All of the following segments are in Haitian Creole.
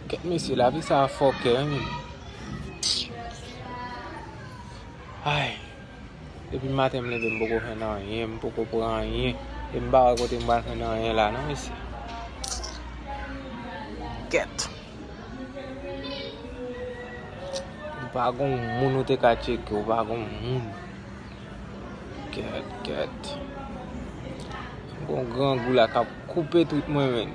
Kèt mesye la vi sa a fòkè wi. Ayy. Depi maten m leve m poko fè nan anyen, m poko pran anyen. E m pa wè kote m pral fè nan anyen la non mesye. Kèt. Ou pa gon moun ou te ka tcheke, ou pa gon moun. Kèt, kèt. Gon grangou la kap koupe tout mwen men.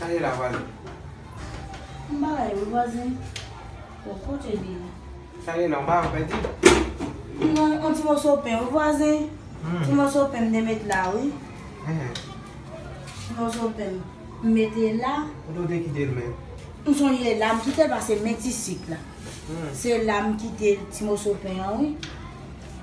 Kale la vwazen. M pa la yo vwazen. Bon kote li ye. Kale la m pa wè di. Non on ti moso pen wi vwazen. Ti moso pen m te met la wi. Ti moso pen m mete la. Kote ou te kite l menm? M sonje la m kite l pase men ti sik la. Se la m kite ti moso pen an wi.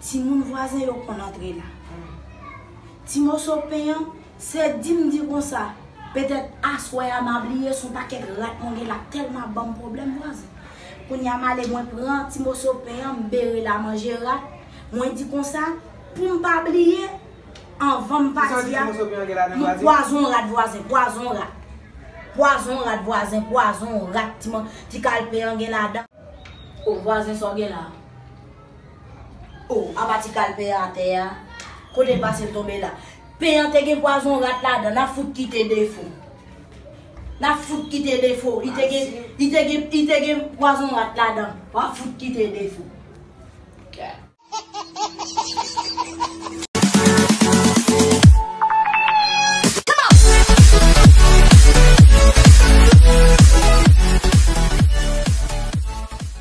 Timoun vwazen yo konn antre la. Ti moso pen an, se di m di konsa, petèt aswè a m a bliye s on pakèt rat mwen gen la k tèlman ap ban m pwoblèm vwazen. Kounye a m ale mwen pran ti moso pen an m bere l a manje rat, mwen di konsa, pou m pa bliye, anvan m pati a, m pwazon rat vwazen, pwazon rat. Pwazon rat vwazen, pwazon rat ti kal pen an gen ladan. O vwazen sa w gen la a? Oh apa ti kal pen an atè a. Kote l pase l tonbe la. Pen an te gen pwazon rat ladan nan fout kite defo. Nan fout kite defo. Li te gen li te gen li te gen pwazon rat ladan. Wa fout kite defo.